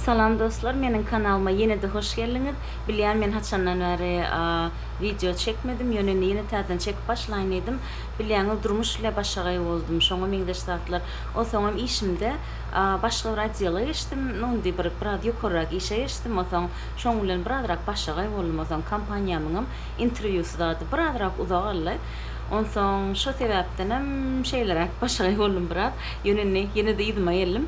Salam dostlar meniň kanalyma ýene-de hoş geldiňiz. Bilýän men haçandan bäri wideo çekmedim, ýöne indi ýene täzeden çekip başlaýyn diýdim. Bilýäňiz durmuş ile başagaý boldum, şoňa meňzeş zatlar. Onsoňam işimde başga bir odela geçdim, nu indi bir biraz ýokarrak işe geçdim, onsoň şoň bilen birazrak başagaý boldum, onsoň kompaniýamyňam interwýusy zady birazrak uzak aldy. Onsoň şo sebäpdenem şeýleräk başagaý boldum biraz. Ýöne indi ýene-de yzyma geldim.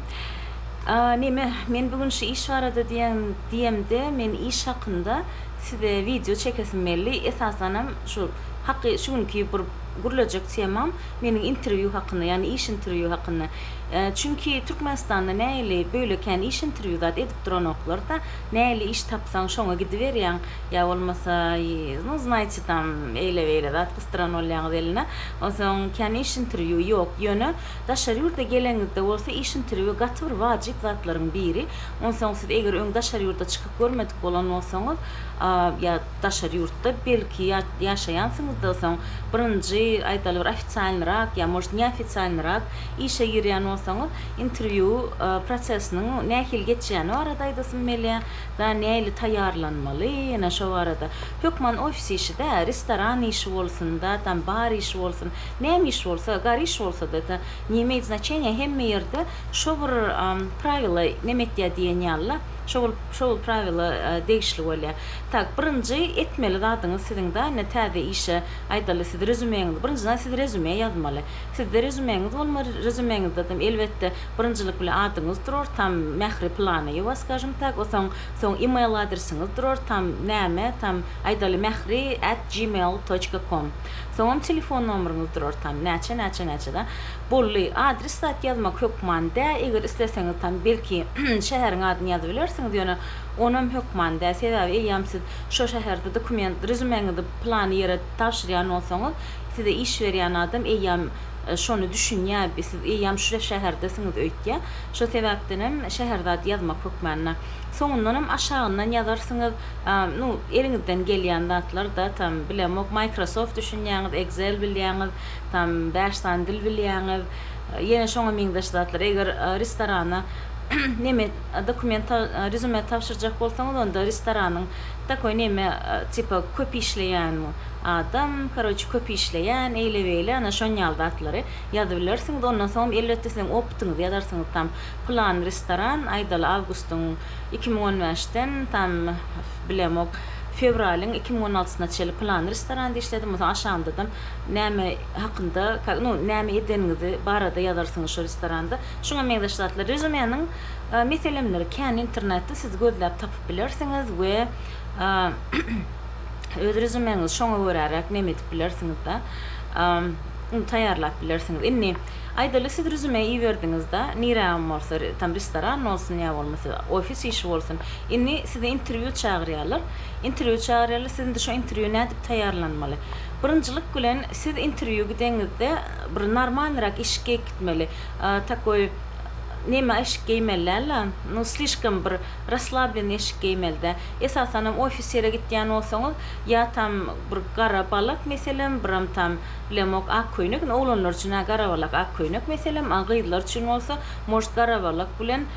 Neme, men bu gün şu iş barada diýen diýemde, men iş hakynda size wideo çekesim geldi. Esasanam şu haky şu günki bir gürlejek temam meniň interwýu hakynda, ýagny iş interwýu hakynda. Çünki Türkmenistanda nähili, böle kän iş interwýu zat edip duranoklar-da. Näli iş tapsaň şoňa gidiberýäň, ýa bolmasa no znaýçe tam eýle-beýle zat gysdyran bolýaňyz eline. Onsoň kän iş interwýu ýok. Ýöne daşary ýurda geleňizde bolsa iş interwýu gaty bir wajyp zatlaryň biri. Onsoň siz eger öň daşary ýurda çykyp görmedik bolan bolsaňyz, ýa daşary ýurtda belki ýaşaýansyňyzda soň birinji aýdaly bir ofisialnyrak ýa может neofisialnyrak işe girýän bolsaňyz, Interwýu prosesiniň nähili geçýäni barada aýdasym gelýär. Ýa nähili taýýarlanmaly, ýene şo barada. Hökman ofis işi-dä, restoran işi bolsun-da, tam bar işi bolsun, näme iş bolsa, gar iş bolsa-da, ta ne imeýt znaçeniýa, hemme ýerde şo bir prawila neme etýär diýen ýaly-la, şo bir şo bir prawila degişli bolýar. Tak, birinji etmeli zadyňyz siziň-de ine täze işe, aýdaly, siz rezümeňizi, birinjiden siz rezüme ýazmaly. Sizde rezümeňiz bolmaly, rezümeňizdedem elbetde birinjilik bilen adyňyz durar, tam Mähri Planaýewa, skажем tak, osoň soň email adresiňiz durar, tam näme, tam aýdaly Mähri at gmail toçka kom. Soňam telefon nomeriňiz durar, tam näçe, näçe, näçe da. Boldy. Adres zat ýazmak hökman dä, eger isleseňiz tam belki şäheriň adyny ýazyp bilersiňiz, ýöne onam hökman dä, sebäbi eýýäm siz şo şäherde dokument, rezümeňizi plan ýere tabşyrýan bolsaňyz, Size iş berýän adam eýýäm şony düşünýär, siz eýýäm şu şäherdesiňiz öýtýär. Şo sebäpdenem Şäherzad ýazmak hökmände. Soňundanam aşagyndan ýazarsyňyz, nu, eliňizden gelýän zatlar-da, tam, bilemok, Microsoft düşünýäňiz, Excel bilýäňiz, tam, bäş sany dil bilýäňiz, ýene şoňa meňzeş zatlar. Eger restorana neme, dokument, rezume tabşyrjak bolsaňyz, onda restoranyň takoý neme, tipa, köp işleýän, Adam, karoçi, köp işleýän, eýle-beýle, ana, şon ýaly zatlary ýazybilersiňiz, ondan soňam, elbetde, siziň opytyňyzy ýazarsyňyz tam. Pylan restoran, aýdaly, awgustyň iki müň on bäşden tam, bilemok, fewralyň iki müň on altysyna çenli pylan restoranda işledim, ondan soň aşagynda-da näme hakynda, ka, nu, näme edeniňizi barada ýazarsyňyz şo restoranda. Şuňa meňzeş zatlar. Rezumeniň, a, meselemleri kän, internetde siz gözläp tapyp bilersiňiz we, a, öz rezumeňizi şoňa göräräk neme edip bilersiňizda ony taýýarlap bilersiňiz indi aýdaly siz rezume iberdiňizda nirägem bolsa tam restoran bolsun ýa bolmasa ofis işi bolsun indi sizi interwýu çagyrýarlar interwýu çagyrýarlar siz indi şo interwýu nädip taýýarlanmaly birinjilik bilen siz interwýu gideňizde bir normalnyrak iş geýip gitmeli takoý neme eşik geýmeli dällä no slişkom bir raslablenny eşik geýmelidä. Esasanam ofisere gitýän bolsaňyz, ýa tam bir gara balak meselem, biram tam bilemok ak köýnek, indi oglanlar üçin-ä gara balak ak köýnek meselem, a gyzlar üçin bolsa, может, gara balak bilen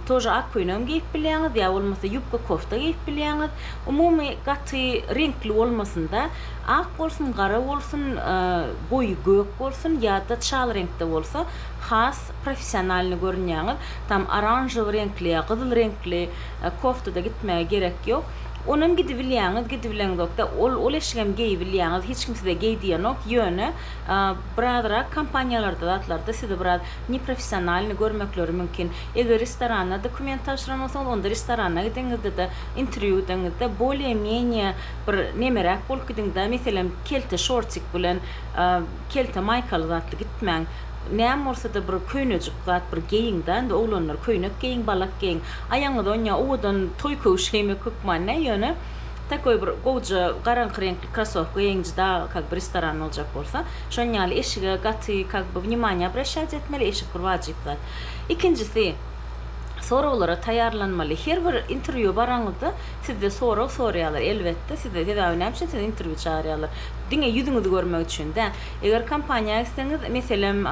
тоже ak köýnegem geýip bilýäňiz, ýa bolmasa ýubka kofta geýip bilýäňiz. Umumy gaty reňkli bolmasyn-da, ak bolsun, gara bolsun, goýy gök bolsun ýa-da çal reňkde bolsa, has professionalnyý görünýäňiz. Tam oranžowy reňkli ýa gyzyl reňkli. koftada gitmäge gerek ýok. Onam gidibilýäňiz, gidibileňzok-da, ol ol eşigem geýibilýäňiz, hiç kim size geý diýenok, ýöne birazrak kompaniýalarda zatlarda sizi biraz neprofessionalnyý görmekleri mümkin. Eger restoranda dokument tabşyran bolsaňyz, onda restorana gideňizde-de, interwýudaňyzda bolýe-menýe bir nemeräk bolup gidiň-de, meselem, kelte şortik bilen, kelte maýkaly zatly gitmäň. Näme bolsa-da bir köýnejik zat bir geýiň-dä, indi oglanlar köýnek geýiň, balak geýiň. Aýagyňyza oň ýa owadan toý köwşi geýmek hökman näý, ýöne takoý bir gowja garaňky reňkli krasowka geýiň, juda kak bir restoran boljak bolsa. Şonuň ýaly eşige gaty kak bir wнимание abraşýat etmeli, eşik bir wajyp zat. Ikinjisi, soraglara taýýarlanmaly. Her bir interwýua baraňyzda sizde sorag soraýarlar, elbetde, size sebäbi näme üçin sizi interwýu çagyrýarlar? Diňe ýüzüňizi görmek üçin däl. Eger kompaniýa etseňiz, meselem,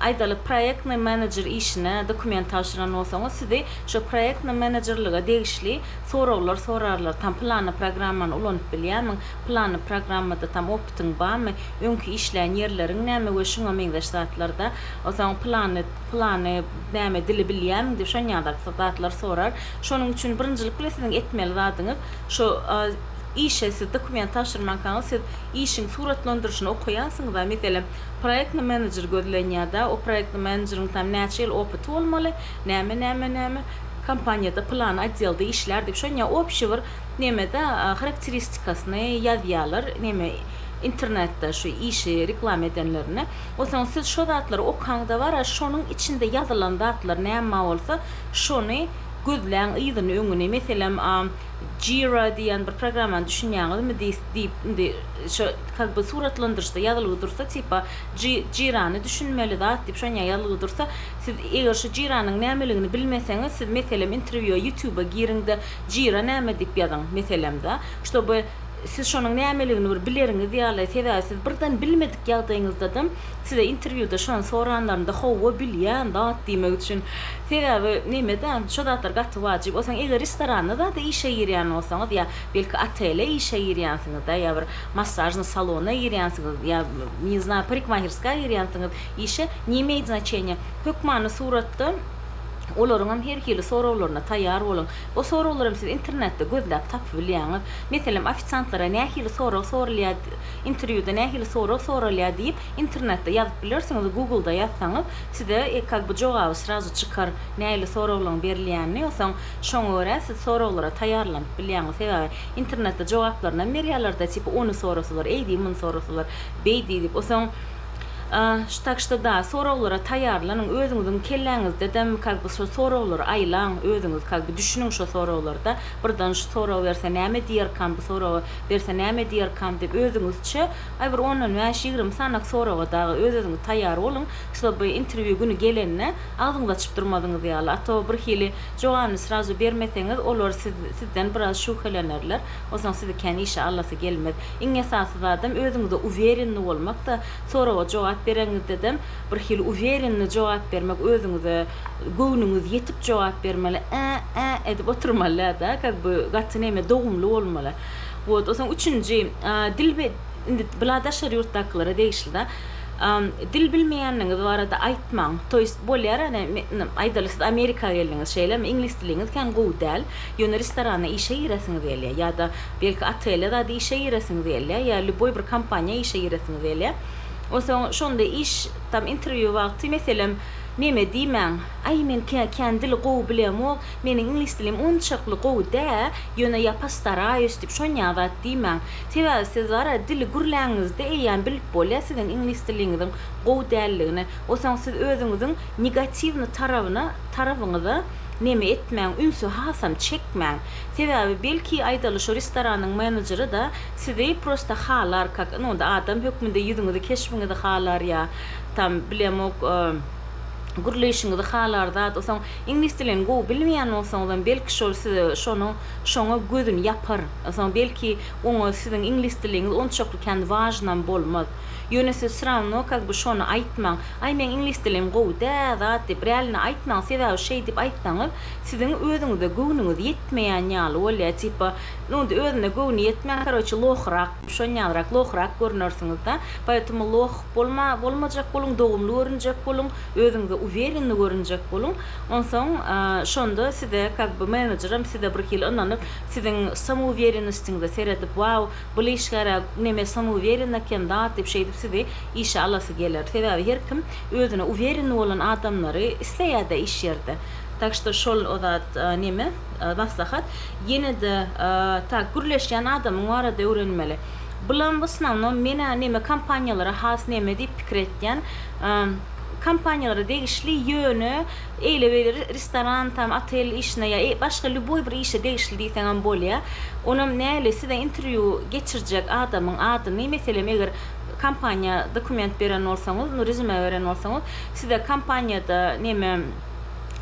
aýdalyk, proýektnýy menejer işine dokument tabşyran bolsaňyz, sizi şo proýektnýy menejerlige degişli soraglar sorarlar, tam pylany programmany ulanyp bilýärmiň, pylany programmada tam opytyň barmy, öňki işlän ýerleriň näme we şuňa meňzeş zatlarda, soň pylany, pylany näme dili bilýärmiň diýip şon ýaly zatlar sorar. Şonuň üçin birinjilik bilen siziň etmeli zadyňyz, şo işe siz dokument tabşyrmankaňyz siz işiň suratlandyryşyny okaýansyňyz-a, meselem, proýektny menejer gözlenýär-dä, o proýektny menejeriň tam näçe ýyl opyty bolmaly, näme, näme, näme, kompaniýada pylan otdelda işlär diýip, şony ýa opşi bir neme-de harakteristikasyny ýazýarlar, neme, internetde şu işi reklama edenlerine. Onsoň siz şo zatlary okaňda bar-a, şonuň içinde ýazylan zatlar näme bolsa, şony gözläň yzyny-öňüni. Meselem, Jira diýýän bir programmany düşünýäňizmi? diýip diýip indi şo kak by suratlandyryşda ýazylgy dursa tipa ji jirany düşünmeli zat diýip şonýa ýazylgy dursa siz eger şu jiranyň nämeligini bilmeseňiz siz meselem interwýua ýutuba giriňde jira näme diýip ýazyň meselemda ştoby siz şonuň nämeligini bir bileriňiz ýaly sebäbi siz birden bilmedik ýagdaýyňyzdadam size interwýuda şony soranlarynda howwa bilýän zat diýmek üçin Sebäbi nemeda şo zatlar gaty wajyp. Osaň eger restoranda zada işe girýän bolsaňyz ýa belki otele işe girýänsiňizda ýa bir massažnyý salona girýänsiňiz ýa ne zna parikmahirska girýänsiňiz işe ne imeýt znaçeniýa hökmany suratda olaryňam her hili soraglaryna taýýar boluň. O soraglaram siz internetde gözläp tapy bilýäňiz. Meselem ofisiantlara nähili sorag sorulýa interwýuda nähili sorag soralýa diýip internetde ýazyp bilersiňiz, Google-da ýazsaňyz Size ekal bu jogaby srazu çykar, nähili soraglaryň berilýänini, onsoň şoňa görä siz soraglara taýýarlanyp bilýäňiz. Sebäbi internetde jogaplarynam berýärler-de, tipi ony sorasalar, eýdi, muny sorasalar, beýdi diýip. Onsoň, şu tak şto-da, soraglara taýýarlanyň, özüňiziň kelläňizdedem kak by şo soraglary aýlaň, özüňiz kak by düşüniň şo soraglarda, birden şu soragy berse näme diýerkam, bu soragy berse näme diýerkam diýip, özüňizçe, aý bir ondan bäş-ýigrimi sanyk soraga dagy öz-özüňiz taýýar boluň. Şoby interwýu güni gelende agzyňyzy açyp durmadyňyz ýaly, a to bir hili jogany srazu bermeseňiz olar siz sizden biraz şübhelenerler, onsoň sizi kän işe alasy gelmez. Iň esasy zadam özüňize uwerenni bolmakda, soraga jogap bereňizdedem bir hili uwerenni jogap bermek özüňize göwnüňiz ýetip jogap bermeli ä ä edip oturmalydä da kak by gaty neme dogumly bolmaly. Wot onsoň üçünji a dil indi bla daşary ýurtdakylara degişli da Dil bilmeýänligiňiz barada aýtmaň. To ýest, bolýar ýöne men, aýdaly, siz Amerika geldiňiz, şeýlemi? Iňlis diliňiz kän gowy däl, ýöne restorana işe giresiňiz gelýär ýa-da belki otele zat işe giresiňiz gelýär ýa lýuboý bir kompaniýa işe giresiňiz gelýär. Onsoň şonda iş, tam interwýu wagty, meselem, meme diýmäň, Aý, men kän dili gowy bilemok, meniň iňlis dilim onçakly gowy dä, ýöne ýa postaraýus diýip, şon ýa zat diýmäň. Sebäbi siz gara dili gürläňizde eýýäm bilip bolýar siziň iňlis diliňiziň gowy däldigini. Osaň siz özüňiziň negatiwny tarabyna, tarabyňyza neme etmäň, ünsi hasam çekmäň. Sebäbi belki aýdaly şo restoranyň menejeri-da sizi prosta halar, kak indi onda adam hökmünde ýüzüňizi, keşbiňizi halar ýa tam bilemok gürleýşiňizi halar zat. Osaň iňlis dilini gowy bilmeýän bolsaňyzam belki şol size şonuň, şoňa gözüni ýapar. Soň belki oňa siziň iňlis diliňiz onçakly kän wažnam bolmaz. Ýöne siz srawno kak by şony aýtmaň, Aý meň iňlis dilim gowy dä zat diýip rälini aýtmaň sebäbi şeýdip aýtsaňyz siziň özüňize göwnüňiz ýetmeýän ýaly bolýar tipa nu özüne göwni ýetmän karoçe lohrak şonýalrak lohrak görnersiňizda poetemu loh bolma bolmajak boluň dogumly görünjek boluň özüňize uwerenni görünjek boluň onsoň şonda size kak by menejeram size birhili ynanyp Siziň samouwerennostiňize seredip wow bul işgärä neme samouwerenne eken zat diýip şeýdip sizi işe alasy geler. Sebäbi her kim özüne uwerenni bolan adamlary isleýärde iş ýerde. Tak şto şol zat neme maslahat. Ýenede tak gürleşýän adamyň barada öwrenmeli. Bulam w osnownom menä neme kompaniýalara has neme diýip pikir etýän. Kompaniýalara degişli ýöne eýle-beýle restoran tam, otel işine ýa başga lýuboý bir işe degişli diýseňem bolýar. Onam näli size interwýu geçirjek adamyň adyny, meselem, eger kompaniýa dokument beren bolsaňyz, nu rezüme beren bolsaňyz, size kompaniýada neme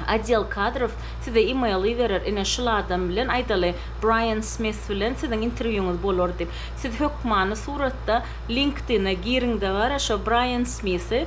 Odel kadrow size e-mail iberer, ine şul adam bilen aýdaly Braýan Smith bilen siziň interwýuňyz bolar diýip. Siz hökmany suratda LinkedIn-e giriň-de bara şo Braýan Smithi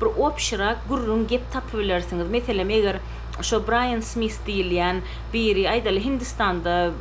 bir opşyrak gürrüň gep tapybilersiňiz, meselem eger şo Braýan Smis diýilýän biri aýdaly Hindistanda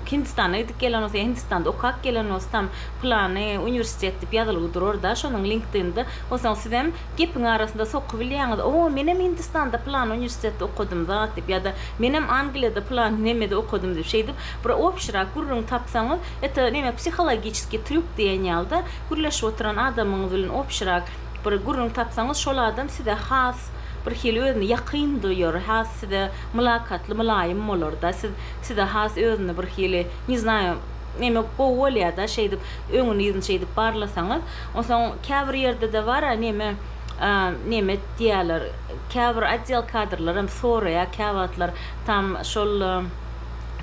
Hindistana gidip gelen bolsa ýa Hindistanda okap gelen bolsa tam pylany uniwersitet diýip ýazylgy durarda şonuň linkdinda onsoň sizem gepiň arasynda sokubilýäňiz o menem Hindistanda pylany uniwersitetde okadym zat diýip ýa-da menem Angliýada pylany nemede okadym diýip şeýdip bir opşyrak gürrüň tapsaňyz eto neme psihologiçeskiý trýuk diýen ýalyda gürleşip oturan adamyňyz bilen opşyrak bir gürrüň tapsaňyz, şol adam size has bir hili özüni ýakyn duýar, has size mylakatly, mylaýym bolar-da, siz size has özüni bir hili, ne znаю, neme gowy bolýar-da, şeýdip, öňüni-yzyny şeýdip barlasaňyz. Onsoň käbir ýerde-de bar-a, neme, neme diýýärler, käbir otdel kadrlaram soraýar käwagtlar, tam şol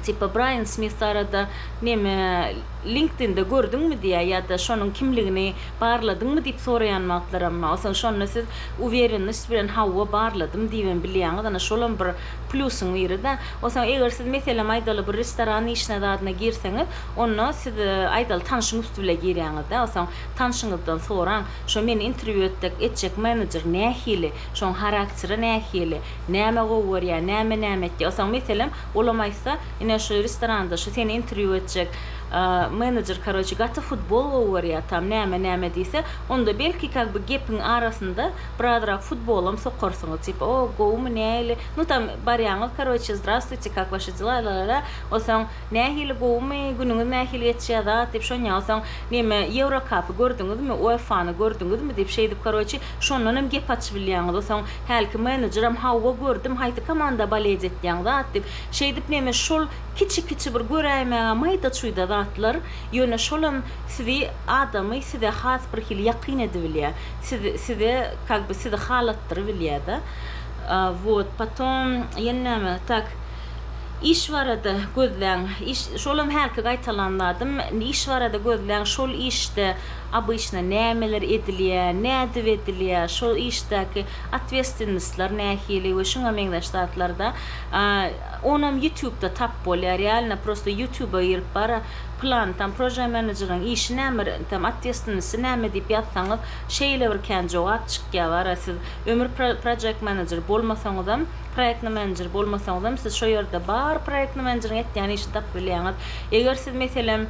tipa Braýan Smis barada, neme, LinkedIn-de gördüňmi diýýär ýa-da şonuň kimligini Barladyňmy diýip soraýan wagtlaram bolsa, şonda siz uwerennost bilen hawa, barladym diýibem bilýäňiz. Ana, şolam bir plýusyň biri-de. O soň eger siz, meselem, aýdaly, bir restoran işine zadyna girseňiz, onda siz, aýdaly, tanşyň üsti bile girýäňiz-dä, o soň tanşyňyzdan soraň, Şo meni interwýu etdek, etjek menejer nähili? Şoň harakteri nähili? Näme gowy görýär, näme-näme etýär? O soň, meselem, olam aýtsa, Ine, şu restoranda şu seni interwýu etjek Menejer karoçe gaty futbol gowy görýär tam näme näme diýse onda belki kag by gepiň arasynda birazrak futbolam sokarsyňyz tipa o gowumy näili nu tam barýaňyz karoçe zdrastwuýte kak waşi dela lalala osaň nähili gowumy günüňiz nähili geçýär zat diýip şonýa osaň neme ýewrokapy gördüňizmi uefany gördüňizmi diýip şeýdip karoçe şondanam gep açybilýäňiz osaň hälki menejeram hawwa gördüm haýsy komanda baledi etýäň zat diýip şeýdip neme şol Kiçi-kiçi bir göräýmäge maýda-çuýda zatlar, ýöne şolam sizi, adamy size has bir hili ýakyn edibilýär. Sizi, size, kak by sizi halatdyrybilýär-de. Wot, potom, ýene näme, tak, iş barada gözläň, iş, şolam hälki gaýtalan zadym, iş barada gözläň, şol işde obyçna nämeler edilýär, nädip edilýär, şol işdäki otwestwennostlar nähili we şuňa meňzeş zatlarda. Onam ýutubda tap bolýa realno prosta ýutuba girip bara plan tam proža menejeriň işi näme tam otwestvenisi näme diýip ýazsaňyz şeýle bir kän jogap çykýa bara siz ömür projekt menejer bolmasaňyzam proektny menejer bolmasaňyzam siz şo ýerde bar proektny menejeriň etýän işini tapyp bilýäňiz eger siz meselem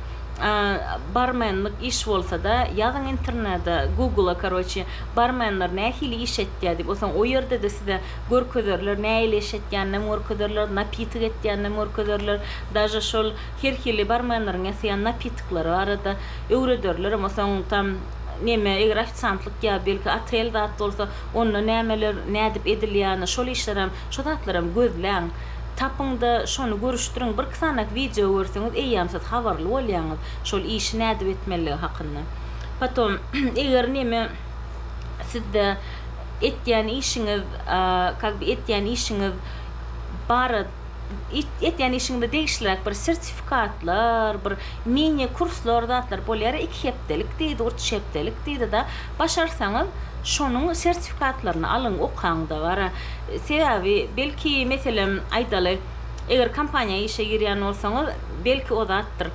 barmenlik iş bolsada ýazyň internede gugla karoçi barmenler nähili iş etýä diýip osaň o ýerdede size görkezerler, näileş etýäninem görkezerler, napitik etýäninem görkezerler, daže şol her hili barmenleriň ýasaýan napitiklary barada öwrederlerem, soň tam neme eger ofisiantlyk ýa belki otel zat bolsa onda nämeler nädip edilýäni şol işlerem şo zatlaram gözläň, tapyňda şony görüşdiriň, bir iki sany wideo görseňiz eýýäm siz habarly bolýaňyz şol işi nädip etmelidigi hakynda. Potom eger neme sizde. etýän işiňiz как бы etýän işiňiz bara etýän işiňize degişliräk bir sertifikatlar bir mini kurslar zatlar bolýara iki hepdelik diýdi uç hepdelik diýdi da başarsaňyz şonuň sertifikatlaryny alyň okaňda bara sebäbi belki meselem aýdaly eger kompaniýa işe girýän bolsaňyz belki o zatdyr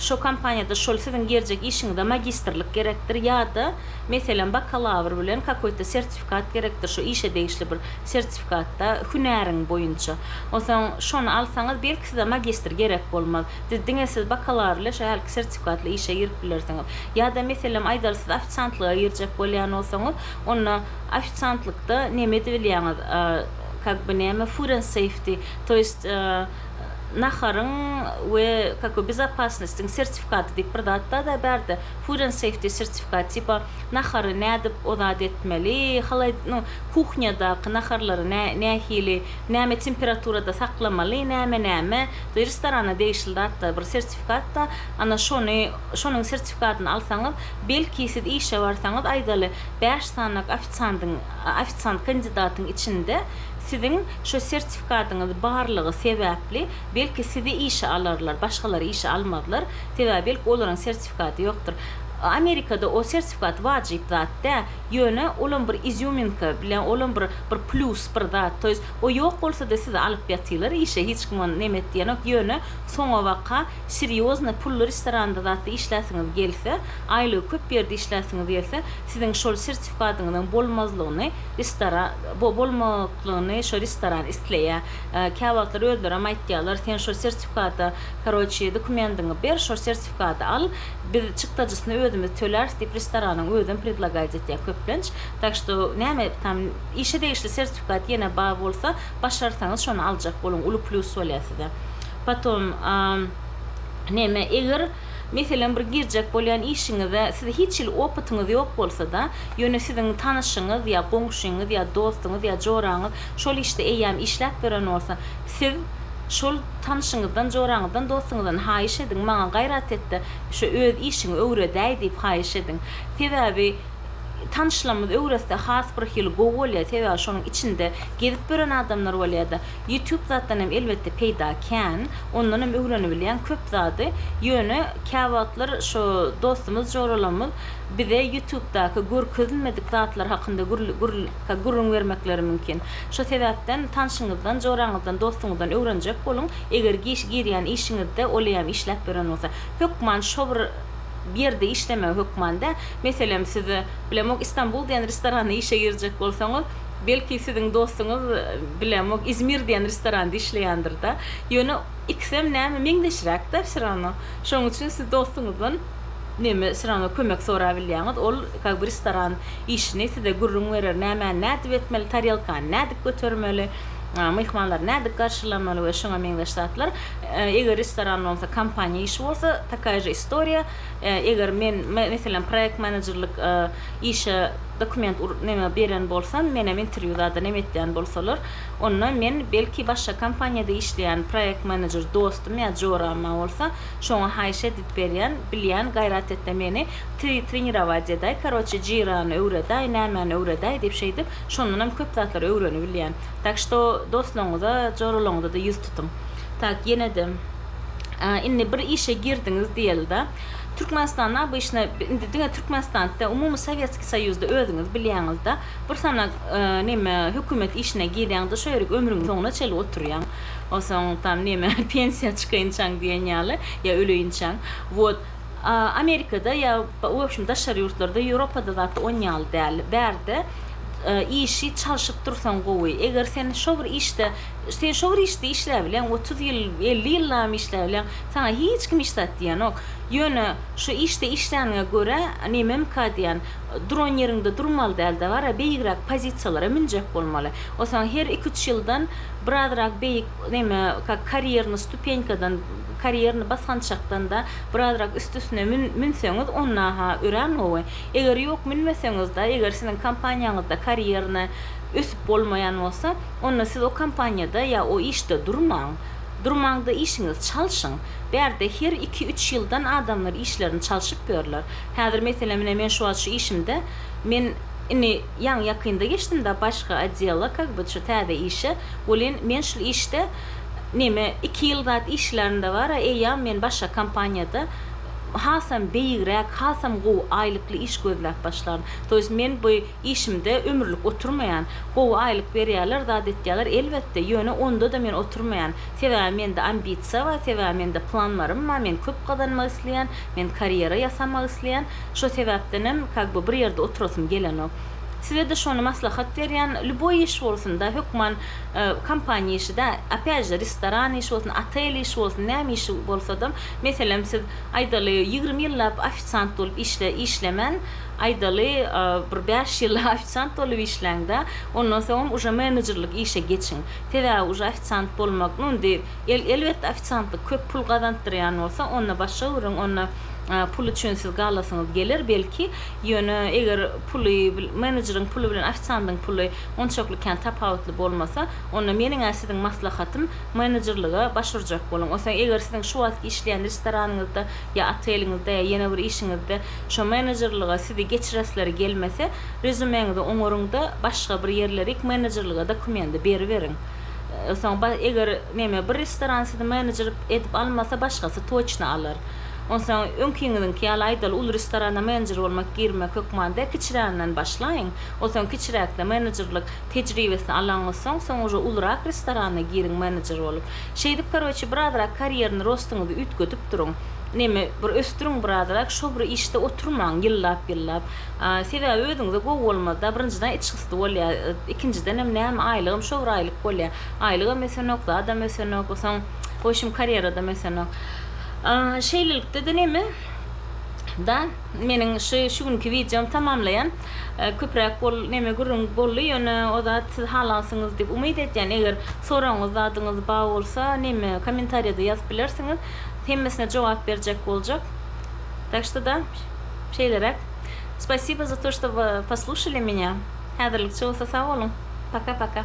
şo kompaniýada şol siziň gerjek işiňize magistrlik gerekdir ýada. Meselem, bakalawr bilen kakoýta sertifikat gerekdir, şu işe degişli bir sertifikatda hünäriň boýunça. Onsoň şony alsaňyz, belki size magistr gerek bolmaz. Siz diňe siz bakalawr ile şu hälki sertifikatly işe girip bilersiňiz. Ýa-da meselem, aýdaly siz ofisiantlyga girjek bolýan bolsaňyz, onda ofisiantlykda neme edip bilýäňiz, kak by näme, food and safety, to ýest naharyň we kakoý bezopasnostiň sertifikaty diýip bir zat-da-da bärde. Food and Safety sertifikat tipa nahary nädip o zat etmeli, halaýd nu kuhnýadaky naharlary nä nähili näme temperaturada saklamaly, näme näme de restorana degişli zatlar bir sertifikatda ana şony şonuň sertifikatyny alsaňyz belki siz işe barsaňyz aýdaly bäş sanak ofisandyň ofisant kandidatyň içinde siziň şo sertifikatyňyz barlygy sebäpli belki sizi işe alarlar başgalary işe almazlar sebäbi belki olaryň sertifi. sertifikady ýokdur. Amerikada o sertifikat wajyp zat dä, ýöne olam bir izýuminka, bilä olam bir bir plýus bir zat, to ýest o ýok bolsada sizi alyp ýatylar işe hiç kim ony neme etýänok, ýöne soňabaka serýozny pully restoranda zatda işläsiňiz gelse, aýlygy köp ýerde işläsiňiz gelse, siziň şol sertifikadyňyzyň bolmazlygyny restora bo bolmaklygyny şo restoran isleýä. Käwagtlar özlerem aýtýarlar sen şo sertifikada karoçi dokumendiňi ber şo sertifi. sertifikady al, biz çykdajysyny özümiz töläris diýip restoranyň özem predlagaýt etýär köplenç. Tak što näme tam işe degişli sertifikat ýene bar bolsa başarsaňyz şony aljak boluň uly plýus bolýar size. Potom näme eger meselem bir girjek bolýan işiňize siz hiç hili opytyňyz ýok bolsada ýöne siziň tanyşyňyz ýa goňşyňyz ýa dostuňyz ýa joraňyz şol işde eýýäm işläp ýören bolsa Siz şol tanşyňyzdan, joraňyzdan, dostuňyzdan haýyş ediň, maňa gaýrat et-de, şu öz işiňi öwredäý diýip haýyş ediň. Sebäbi tanşlamyz öwretse has bir hili gowy bolýar, sebäbi şonuň içinde gezip ýören adamlar bolýar-da. Ýutub zatdan hem elbetde peýda kän, ondan hem öwrenibilýän köp zady, ýöne käwagtlar şo dostumyz, joralamyz bize ýutubdaky görkezilmedik zatlar hakynda gürrüň bermekleri mümkin. Şu sebäpden tanşyňyzdan, joraňyzdan, dostuňyzdan öwrenjek boluň. Eger giş girýän işiňizde oleýam işläp beren bolsa, hökman şo bir ýerde işlemegi hökman dä. Meselem, siz, bilemok, Istanbul diýen restoranda işe girjek bolsaňyz, belki siziň dostuňyz, bilemok, Izmir diýen restoranda işleýändir-de. Ýöne ikisem näme, meňzeşräk-dä, wsýorownoo. Şonuň üçin siz dostuňyzdan. Neme sıraňa kömek sora bilýäňiz ol kag bir restoran işini size gürrüň berer nämäni nädip etmeli tarelkany nädip götermeli myhmanlary nädip garşylamaly we şuňa meňzeş zatlar eger restoran bolmasa kompaniýa işi bolsa takaya je istoriýa eger men meselem proýekt menejerlik işe dokument neme beren bolsam menem interwýu zada neme etýän bolsalar onda men belki başga kompaniýada işleýän proýekt menejer dostum ýa joram bolsa Şoňa haýyş edip berýän, bilýän gaýrat etde meni tri trenirować edäý, karoçe jyrany öwredäý, nämäni öwredäý diýip şeýdip, şondanam köp zatlary öwrenibilýän. Tak şto dostlaryňyza, joralaryňyza-da ýüz tutuň. Tak, ýene-de indi bir işe girdiňiz diýeli-da. Türkmenistanda obyşna indi diňe Türkmenistanitde, umumy Sowetskiý Soýuzda özüňiz bilýäňiz-de, bir sanak neme hökümet işine girýäňiz-de, şo ýerik ömrüňiň soňuna çenli oturýaň. Onsoň tam neme pensiýa çykaýynçaň diýen ýaly, ýa öleýinçäň. Wot, Amerikada ýa wobşem daşary ýurtlarda, Ýewropada zat on ýaly däl. Bärde işi çalşyp dursaň gowy. Eger sen şo bir işde, sen şo bir işde işläp bileň, otuz ýyl, elli ýyllabam işläp bileň, saňa hiç kim hiç zat diýenok. Ýöne şo işde işläniňe görä, nememka diýen, Duran ýeriňde durmaly däl-de gara, beýigräk pozisiýalara münjek bolmaly. Ol saňa her iki-üç ýyldan birazrak beýik näme, kak karýernyý stupenkadan, karýernyý basgançakdan-da birazrak üst-üstüne mün-münseňiz, onda-ha örän gowy. Eger ýok, münmeseňiz-de, eger siziň kompaniýaňyzda karýernyý ösüp bolmaýan bolsa, onda siz o kompaniýada ýa o işde durmaň. Durmaň-da işiňizi çalşyň. Bärde her iki-üç ýyldan adamlar işlerini çalşyp ýörler. Häzir meselem ine men şu wagt şu işimde men indi ýaňy ýakynda geçdim da başga otdela kak by şu täze işe welin men şul işde neme iki ýyl zat işlärinde bara eýýam men başga kompaniýada hasam beýigräk hasam gowy aýlykly iş gözläp başlaryn to ýest men bu Işimde ömürlik oturmaýan. Gowy aýlyk berýärler, zat etýärler, elbetde, ýöne onda-da men oturmaýan. Sebäbi mende ambisiýa bar, sebäbi mende planlarym bar, men köp gazanmak isleýän, men karýera ýasamak isleýän. Şo sebäpdenem kak by bir ýerde oturasym gelenok. Size-de şony maslahat berýän, lýuboý iş bolsun-da, hökman kompaniýa işi-dä, opýaç-de, restoran işi bolsun, otel işi bolsun, näme işi bolsa-da, meselem, siz, aýdaly, ýigrimi ýyllap ofisiant bolup işle, işlemän, Aýdaly, bir bäş ýyl ofisiant bolup işläň-de, ondan soňam uje menejerlik işe geçiň. Sebäbi uje ofisiant bolmak, nu, indi, el, elbetde, ofisiantlyk köp pul gazandyrýan bolsa, onda başga gürrüň, onda pul üçin siz galasyňyz geler, belki, ýöne eger puly, menejeriň puly bilen ofisiandyň puly onçakly kän tapawutly bolmasa, onda meniň-ä siziň maslahatym, menejerlige baş urjak boluň. Onsoň, eger siziň şu wagtky işleýän restoranyňyzda ýa oteliňizde ýa ýene bir işiňizde şo menejerlige sizi geçiresleri gelmese, rezümeňizi oňaryňda başga bir ýerlerik menejerlige dokumendi beriberiň. Soň ba eger neme bir restoran sizi menejer edip almasa başgasy toçna alar. Onsoň öňkiňiziňki ýaly aýdaly uly restorana menejer bolmak girmek hökman däl kiçiräginden başlaýyň. Onsoň kiçiräkde menejerlik tejribesini alaňyzsoň soň uje ulurak restorana giriň menejer bolup. Şeýdip karoçi birazrak karýerni rostyňyzy üýtgedip duruň. Neme bir ösdüriň birazrak şo bir işde oturmaň ýyllap ýyllap. Sebäbi özüňize gowy bolmazda birinjiden içgysdy bolýa ikinjidenem näme aýlygam şo bir aýlyk bolýa. Aýlygam ösenok zadam ösenok osaň woşim karýeradam ösenok. Şeýlelikdede neme da meniň şu şu günki wideom tamamlaýan. köpräk bol neme gürrüň bolly ýöne o zat siz halansyňyz diýip umyt edýän eger soragyňyz zadyňyz ba bolsa neme komentarýada ýazyp bilersiňiz hemmesine jogap berjek boljak tak şta da şeýleräk spasiba za to şta poslušali meňa häzirlikçe bolsa sag boluň paka paka.